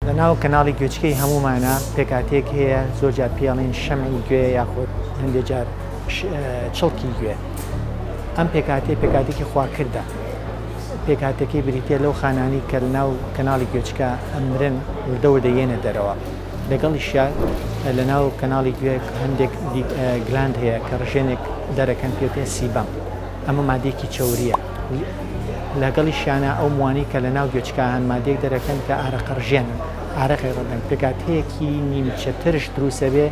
لە ناو کەناڵی گوێچکەی هەموومانا پێکاتێک هەیە زۆر جار پێڵێن شەمعی گوێ یاخود هەندێک جار چڵکی گوێ ئەم پێکاتی پێکاتێکی خواکردە پێکاتەکەی بریتە لەو خانانی کە ناو کەناڵی گوێچکە ئەمرن وردەوە دەیەنە دەرەوە لەگەڵیشیا لە ناو کەناڵی گوێ هەندێک گلاند هەیە کە ڕژێنێک دەرەکەن پێتێ سیبەم ئەمە مادێکی چوریە لەگەڵیشیانا ئەو مووانەی کە لەناو گوێچکە هەن ماددەیەک دەرەکەن کە ئارەقەڕژێنن، ئارەقی ڕدەن، پێکهاتەیەکی نیمچە ترش دروستەبێ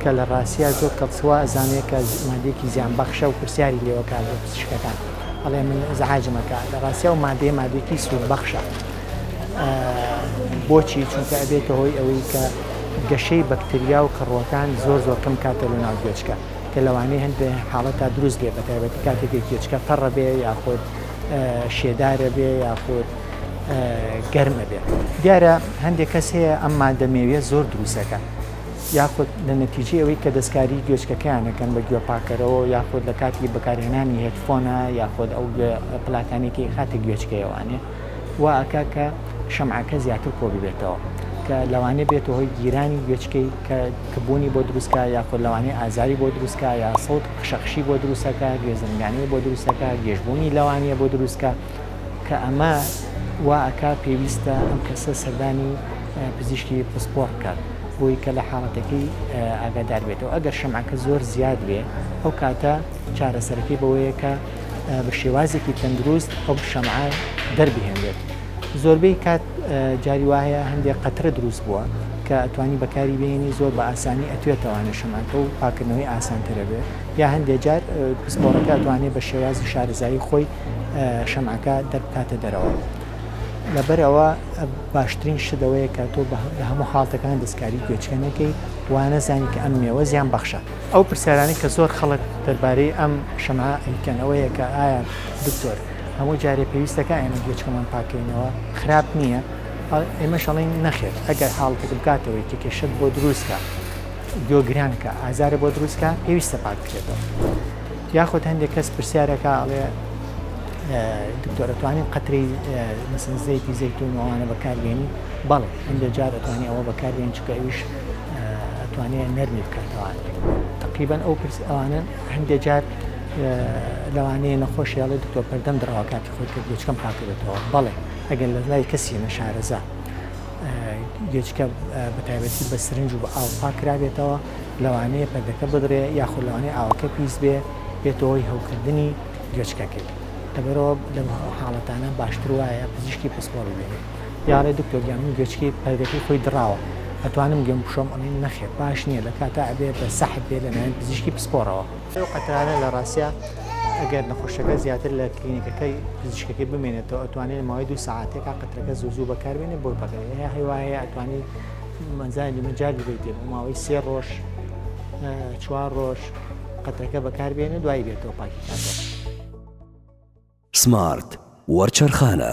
کە لە ڕاستیا زۆر کەڵسوا ئەزانێ کە ماددەیەکی زیانبەخشە و پرسیاری لێوەکا لە پزیشکەکان ئەڵێ من ئیزعاجم ئەکا، لە ڕاستیا ئەو ماددەیە ماددەیەکی سوودبەخشە بۆچی؟ چونکە ئەبێتە هۆی ئەوەی کە گەشەی بەکتریا و کەڕووەکان زۆر زۆر کەم کاتە لەناو گوێچکە. کە لەوانەیە هەندێ حاڵەتا دروست بێ بەتایبەتی کاتێک گوێچکە تەڕە بێ یاخود شێدارە بێ یاخود گەرمە بێ دیارە هەندێک کەس هەیە ئەم مادە مێویە زۆر دروستەکە یاخود لە نەتیجی ئەوەی کە دەستکاری گوێچکەکەیانەکەن بە گوێ پاکەرەوە یاخود لە کاتی بەکارهێنانی هێتفۆنا یاخود ئەو پلاکانێکی خاتە گوێچکەیەوانێ وا ئەکا کە شەمعەکە زیاتر کۆ ببێتەوە کە لەوانێ بێتە هۆی گیرانی گوێچکەی کە کبوونی بۆ دروستکە یاخۆ لەوانێ ئازاری بۆ دروستکە یا سەوت خشەخشی بۆ دروستەکە گوێ زرنگانەی بۆ دروستەکە گێژبوونی لەوانیە بۆ دروستکە کە ئەمە وا ئەکا پێویستە ئەم کەسە سەردانی پزیشکی پسپۆڕ بکات بۆی کە لە حاڵەتەکەی ئاگادار بێتەوە ئەگەر شەمعەکە زۆر زیاد بێ ئەو کاتە چارەسەرەکەی بەوەیە کە بە شێوازێکی تەندروست ئەو شەمعە دەربهێنێت زۆربەی کات جاری وایە هەندێک قەترە دروست بووە کە ئەتوانی بەکاری بینی زۆر بە ئاسانی ئەتوێتەوانە شەمانکە و پاکردنەوەی ئاسانترە بێت یا هەندێک جار پسپۆڕەکە توانێت بە شێوازی شارزایی خۆی شەمعەکە دەربکاتە دەرەوە لەبەرەوە باشترین شدەوەیە کە تۆ لە هەموو حاڵتەکان دەستکاری گوێچکە نەکەی وانەزانی کە ئەم مێوە زیان بەخشە ئەو پرسیارانەی کە زۆر خەڵک دەربارەی ئەم شەمعە ئەیکەن ئەوەیە کە ئایا دکتۆر هەموو جارێ پێویستەکە ئێمە گوێچکەمان پاکەینەوە خراپ نییە ئێمە شەڵین نەخێت ئەگەر حاڵتێک بکاتەوەی کە کێشت بۆ دروستکە گوێگرانکە ئازارە بۆ دروستکە پێویستە پاک بکرێتەوە یاخود هەندێک کەس پرسیارەکە ئەڵێ دکتۆرەتوانین قەتری مەسنزەیەکی زەیتون ئەوانە بەکاربیێنی بەڵێ هەندێک جار ئەتوانانی ئەوە بەکاربیێن چکە ئەوش ئەتوانێ نەرمی بکاتەوە تقریبان ئەو پرس ئەوانن هەندێ جار لەوانەیە نەخۆش هێڵێ دکتۆر پەردەم دراوە کاتی خۆی کرد گوچکەم پاکردێتەوە بەڵێ ئەگەر لە لای کەسی نەشارەزا گوێچکە بە تایبەتی بە سرنج و بە ئاو پاکرابێتەوە لەوانەیە پەردەکە بدرێ یاخود لەوانەیە ئاوەکە پیس بێ بێتەوەی هەوکردنی گوێچکەکەی لەبەرەوە لەم حاڵەتانە باشتر وایە پزیشکی پسپۆڕ ببینێت یاڵێ دکتۆر گیان من گوێچکی پەردەکەی خۆی دڕاوە ئەتوانم گوێم بشۆم ئەڵین نەخێر باش نییە لە کاتە ئەبێ بە سەحب بێ لەلایەن پزیشکی پسپۆڕەوە ئەو قەترانە لە ڕاستە ئەگەر نەخۆشەکە زیاتر لە کلینیکەکەی پزیشکەکەی بمێنێتەوە ئەتوانێت لە ماوەی دو ساعتێکا قەترەکە زوو زوو بەکاربێنێ بۆی پەکەێ هەیە هەیواەیە ئەتوانی مەزای لە مەجار بێت بۆ ماوەی سێ ڕۆژ چوار ڕۆژ قەتەکە بەکاربێنە دوای بێتەوە پاکیکاتەوە. سمارت وەرچەرخانە.